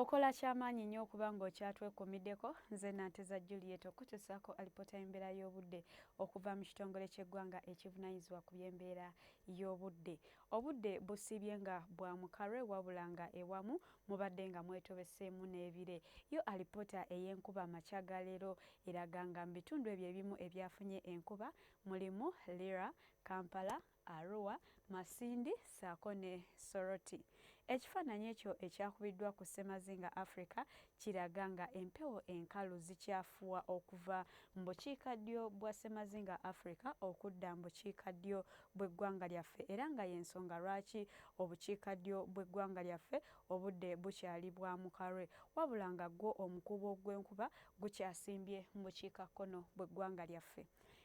Okola kyamaanyi nyo okuba nga okyatwekumideko. Nze Nanteza Juliet okukutusaako alipoota y'embeera y'obudde okuva mu kitongole ky'eggwanga ekivunanyizibwa ku by'embeera y'obudde. Obudde busiibye nga bwa mukarwe wabula nga ewamu mubadde nga mwetobeseemu n'ebire. Yo alipoota ey'enkuba amakya ga leero eraga nga mu bitundu ebyo ebimu ebyafunye enkuba mulimu Lira, Kampala, Arua, Masindi ssaako ne Soroti. Ekifaananyi ekyo ekyakubiddwa ku ssemazinga Africa kiraga nga empewo enkalu zikyafuwa okuva mu bukiika ddyo bwa ssemazinga Africa okudda mu bukiika ddyo bw'eggwanga lyaffe era nga y'ensonga lwaki obukiika ddyo bw'eggwanga lyaffe obudde bukyali bwa mukarwe wabula nga gwo omukuubo gw'enkuba gukyasimbye mu bukiika kkono bw'eggwanga lyaffe.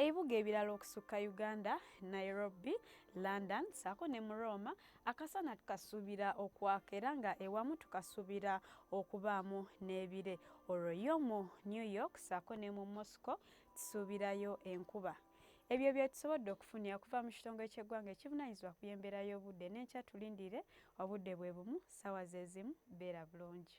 Ebibuga ebirala okusukka Uganda, Nairobi, London saako ne mu Roma akasana tukasuubira okwaka era nga ewamu tukasuubira okubaamu n'ebire. Olwo yo mu New York saako ne mu Moscow tusuubirayo enkuba. Ebyo bye tusobodde okufunira okuva mu kitongole ky'eggwanga ekivunaanyizibwa ku by'embeera y'obudde n'enkya tulindire obudde bwe bumu ssaawa ze zimu beera bulungi.